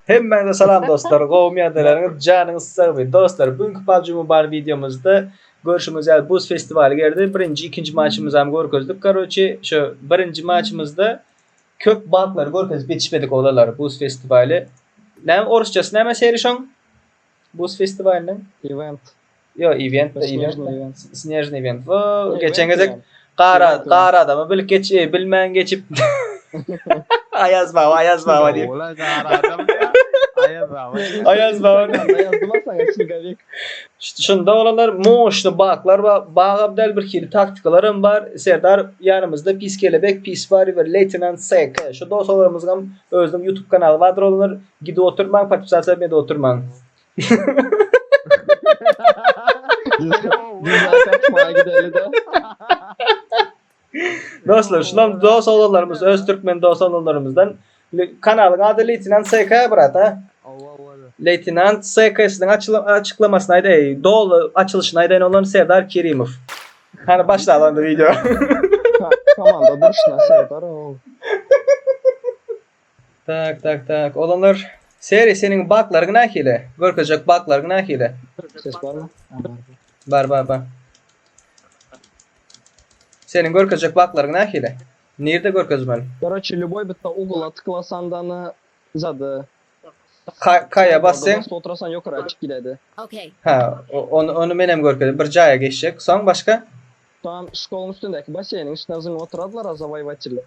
Hemmäňize salam dostlar. Gowum ýadalaryňyz, janyňyz sag bolsun. Dostlar, bu günki PUBG Mobile videomyzda görşüňiz ýaly buz festiwaly geldi. Birinji, ikinji maçymyzy hem görkezdik. Garoçi, şu birinji maçymyzda köp banklar görkezip geçmedik olalary buz festiwaly. Näme orusçasy näme serişoň? Buz festiwalynyň Event. Ýo, event, event, snejny event. Wo, geçen gezek gar, gar adamy bilip geç, bilmän geçip. Aýaz baba, aýaz baba diýip. Ola gar adam diýip. Aýaz baba. Aýaz baba. Aýaz baba saňa çigalik. Şunda olanlar moşny baklar bar, bagam däl bir hili taktikalaram bar. Serdar ýanymyzda pis kelebek, pis wariwer, leýtenant SK. Şu dost olarymyzgam özüniň ýutub kanaly bardyr olanlar Gidip oturmaň, podpisasiýa etmede oturmaň. Dostlar, şulam dost oglanlarymyz, öz türkmen dost oglanlarymyzdan. Le- Kanalyň ady Leýtenant SK brat, ha? Leýtenant SK-synyň açyla- açyklamasyny aýdaýyn, doly açylyşyny aýdaýyn onuň Serdar Kerimow. Hany başlaly onda wideo. Komanda durşuna Serdar o. Tak tak tak. Olanlar Seri seniň baklaryň nähili? Görkezjek baklaryň nähili? Ses barmy? Bar bar bar. Seniň görkezjek baklaryň nähili? Nirde görkezmeli? Garaçy ljuboý bitta ugla tyklasan dany zady. Kaýa bas sen. Bas otrasan ýokara açyp gidädi. Okay. Ha, ony ony menem görkezip bir jaýa geçjek. Soň başga? Tam şkolaň üstündäki baseýniň içine zyňyp oturadylar a zawaýwaçiller.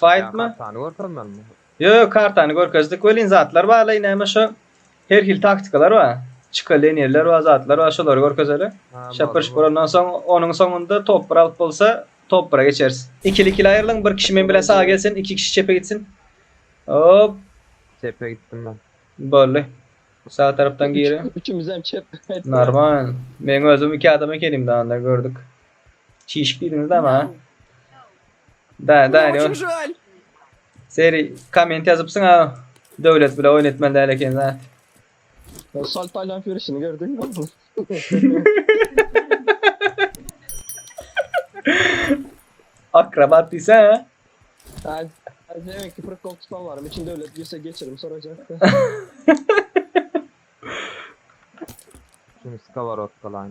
Fightmy? Kartany görkezmänmi? Yo yo kartany görkezdik welin zatlar barlaý näme şo her hil taktikalar bar. Çyka lenirler bar zatlar bar şolary görkezeli. Şapyr şupyr ondan soň onuň soňunda top bir alyp bolsa top bira geçeris. Ikili ikili aýrylyň bir kişi men bilen saga gelsin iki kişi çepe gitsin. Hop. Çepe gitdim men. Boldy. Sag tarapdan giri. Üçümizem çep. Normal. Men özüm iki adam ekenim danda gördük. Çişip gidiňiz da ma. Da da Bulam ne üçin şol. Seri komment ýazypsyň ha. Döwlet bilen oýun etmeli däl ekeniň ha. Şol taýlan ýörişini gördüňmi? Akrobat diýsä. Ay, ay demek ki pırık kol tutan varım. İçin devlet girse geçirim soracak. Şimdi skоворodka lan.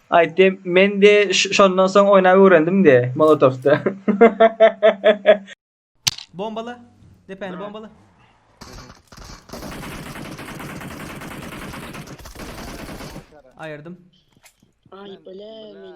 Aýtdy, Men de şondan soň oýnap öwrendim de, Molotowda. Bombala! Depäni bombala! Aýyrdym. Aý bile men.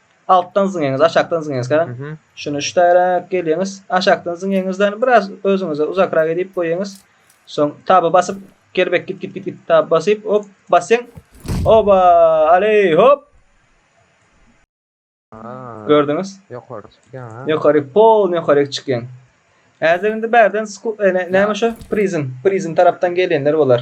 Altdan zyňyňyz, aşakdan zyňyňyz ka. Mhm. Şunu şu taýra gelýäňiz. Aşakdan zyňyňyzdan biraz özüňize uzakrak edip goýýaňyz. Soň taba basyp gerbek git git git git tab basyp hop basýaň. Oba! Aley hop! Aa, Gördüňiz? Ýokary çykýan ha. Ýokary pol ýokary çykýaň. Häzir indi bärden sku e, ne- näme şu? Prizm. Prizm tarapdan gelýänler bolar.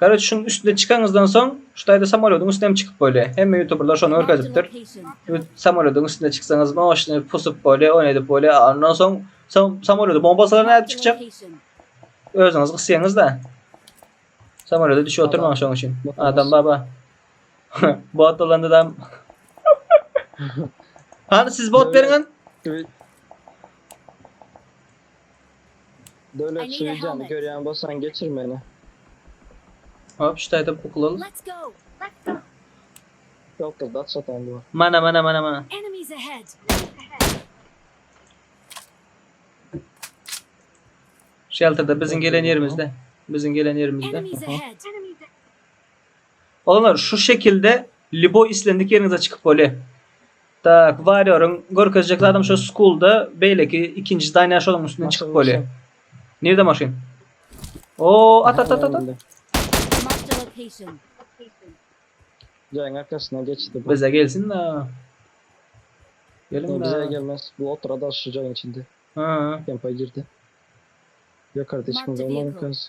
Karoç şuň üstüne çykaňyzdan soň şu taýda samolýodyň üstüne hem çykyp bolýar. Hemme ýutuberler şony görkezipdir. Samolýodyň üstüne çyksaňyz moşny pusup bolýar, ony edip bolýar. Ondan soň samolýody bombasalar nädip çykjak? Özüňiz gysýaňyz-da. Samolýoda düşüp oturmaň şoň üçin. Adam baba. Bot bolanda da Hany siz bot beriň. Döwlet şu wideony görýän bolsaň geçir meni. Hop, şu taýda kukla al. Let's go. Let's go. Ýok, gyz dat satan bu. Mana, mana, mana, mana. Enemies ahead. Shelterda biziň gelen ýerimizde. Biziň gelen ýerimizde. Enemies ahead. Olar şu şekilde liboý islendik ýeriňize çykyp bolýa. Tak, warrior-yň görkezjek zadam şo school-da beýleki ikinji zdaniýa şonuň üstünden çykyp bolýa. Nirde maşyn? O, at at at at at. Marked a location. Jaýyň arkasyna geçdi bu. Bize gelsin-de. Geliň-de. Bize gelmez. Bu otura dal şu jaýyň içinde. Ha. Kempa girdi. Ýokarda hiç kim Marked a galman vehicle. ikens.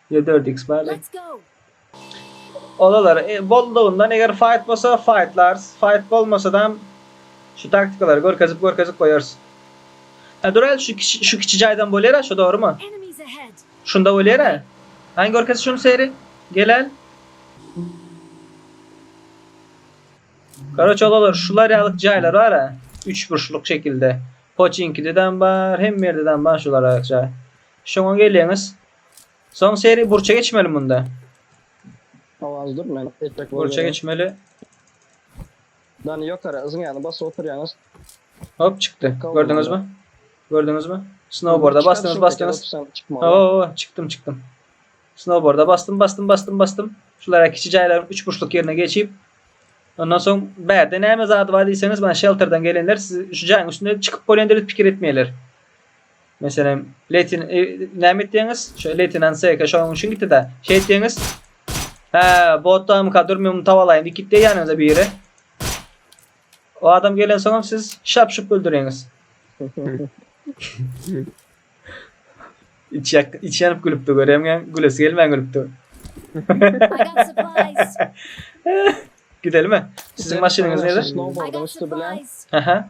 Ýe dört iks bardy. Let's go! Olalar e, boldugyndan eger fight bolsa fightlarys, fight bolmasadam şu taktikalary görkezip görkezip goýarys. Hä durel şu kiçi şu kiçi jaýdan bolýara şu dogrymy? Enemies ahead! Şunda bolýara? Haýn görkez şuny seri. Gelel. Karoç olalar şular ýalyk jaýlar bara. Üç burçluk şekilde. Poçinkidedem bar, hemme ýerdedem bar şular ýalyk jaý. Şoňa gelýäňiz. Soň seri burça geçmeli munda. Awaz dur men etmek bol. Burça geçmeli. Dan ýokara yzyň ýany basy oturýaňyz. Hop çykdy. Gördüňiz mi? Gördüňiz mi? Snowboarda basdyňyz, basdyňyz. Oo, çykdym, çykdym. Snowboarda bastym, bastym, bastym, bastym. Şulara kiçi jaýlaryň üç burçluk ýerine geçip Ondan soň bärde näme zady bar diýseňiz, men shelterden gelenler siz şu jaýyň üstüne çykyp bolýan diýip pikir etmeýärler. Meselem, Letin e, näme etdiňiz? Şu Letinan SK şonuň üçin gitdi-de. Şey etdiňiz? Hä, botdan kadur men muny tawalaýyn. Iki de ýanyňyza biri. O adam gelen soňam siz şap-şup öldüreňiz. iç yak, iç yanıp gülüpdi göremgen. Gülesi gelmän gülüpdi. I got supplies. Gidelim mi? Sizin maşynyňyz nede? Snowboard'un üstü bilen Aha.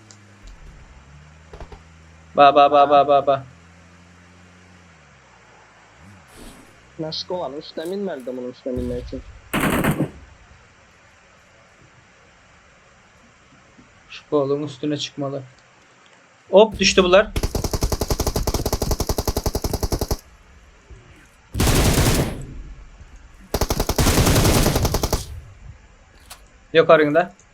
Ba ba ba ba ba ba. Naşyk oňa üstüne minmeli-de munuň üstüne minmek üçin. Şkoluň üstüne çykmaly. Hop düşdi bular. Ýokaryňda.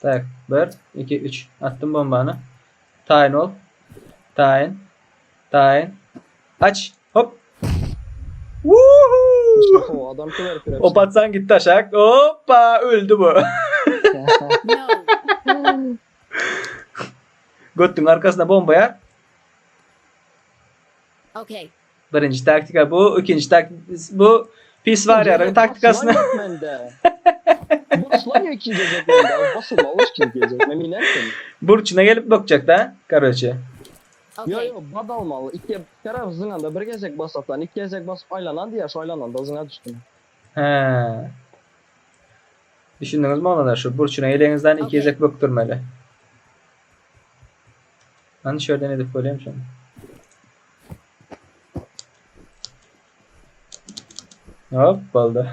Tak, bir, iki, üç. Atdym bombany. Taýyn bol. Taýyn. Taýyn. Aç. Hop. Wuhu! Oho, adam köwerip ýörek. Op atsaň gitdi aşak. Hoppa, öldi bu. Götdüň arkasyna bomba ýa. Okay. Birinji taktika bu, ikinji taktika bu. Pis varýaryň taktikasyny. Boslaň ikinji gezek mende. Boslama boş ikinji gezek. Men bilensin. Burçuna gelip bakjak da, karoçe. Yo yo, bad almaly. Iki taraf zyňanda bir gezek basasan, iki gezek basyp aylanan diýer, şu aylananda zyňa düşdüm. He. Düşündüňizmi oňada şu burçuna geleňizden iki gezek bökdürmeli. Hani şerden edip koyayım şunu. Hop boldy.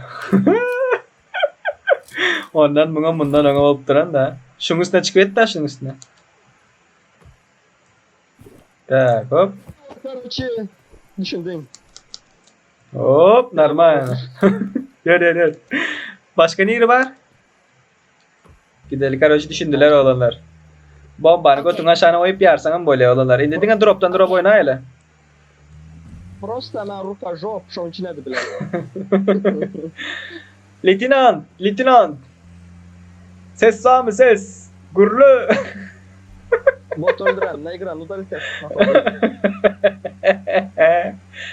Ondan muňa mundan öňe bolup duran da. Şuň üstüne çykyp et da şuň üstüne. Tak hop. Korоче, düşündiň. Hop normal. Ýör ýör ýör. Başga niri bar? Gideli karoç düşündiler oglanlar. Bombany götüň aşagyna goýup ýarsaňam bolýa oglanlar. Indi diňe dropdan drop oýnaýaly. Prosta na rukajok şoň üçin edibiler. Leytenant, leytenant. Ses barmy ses? Gürle. Bot öldüren, ne ekran udalite.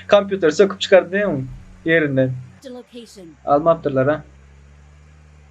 Kompýuter söküp çykardy ýerinden. Almapdyrlar ha.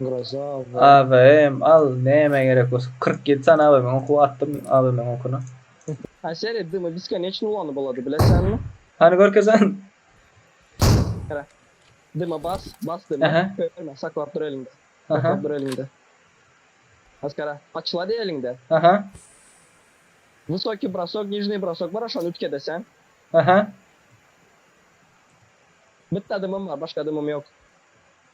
Groza AVM. AVM al näme gerek bolsa kyrk ýedi sany AVM oky bar atdym AVM okyny. A sered dymy beskoniçny ulanyp bolady bilesenmi? Hany görkezen. Hera. Dyma bas bas dyma Aha. körme saklap dur eliňde. Aha. Saklap dur eliňde. Maskara açylady eliňde. Aha Wysokiý brosok nižniý brosok bar şony ütkede sen. aha Bitti dymym bar başga dymym ýok.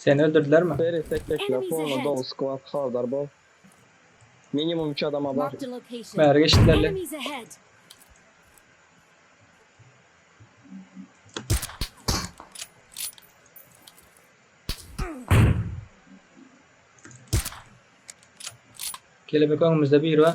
Seni öldürdüler mi? Beri tekleşme fonuna doly skwad habardar bol. Minimum üç adam habar. Bäri geçdiler le. Kelebek öňümüzde biri bar.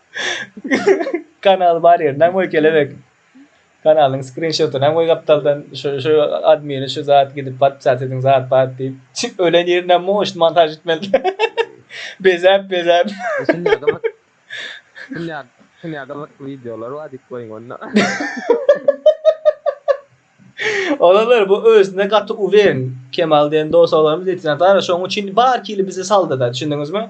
Kanal bar ýer. Näme goý kelebek? Kanalyň skrinşoty näme goý gapdaldan şu şu admini şu zat gidip podpisat ediň zat bat diýip. Ölen ýerinden moş montaj etmeli. Bezäp bezäp. Dünýä dünýä gyzykly wideolar bar diýip goýuň onda. Olar bu özüne gaty uweren Kemal diýen dos oglanymyz Etinatara şoň üçin bar kili bizi saldyda düşündiňizmi?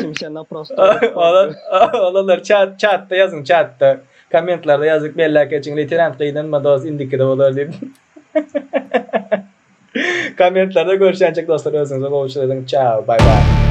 Kimse na prosto. Ola olalar çat çatda ýazyň çatda. Kommentlarda ýazyk belläp geçiň leýtenant gynanma dos indikide bolar diýip. Kommentlarda görüşýänçek dostlar özüňize gowuçylyk ediň çao bay bay.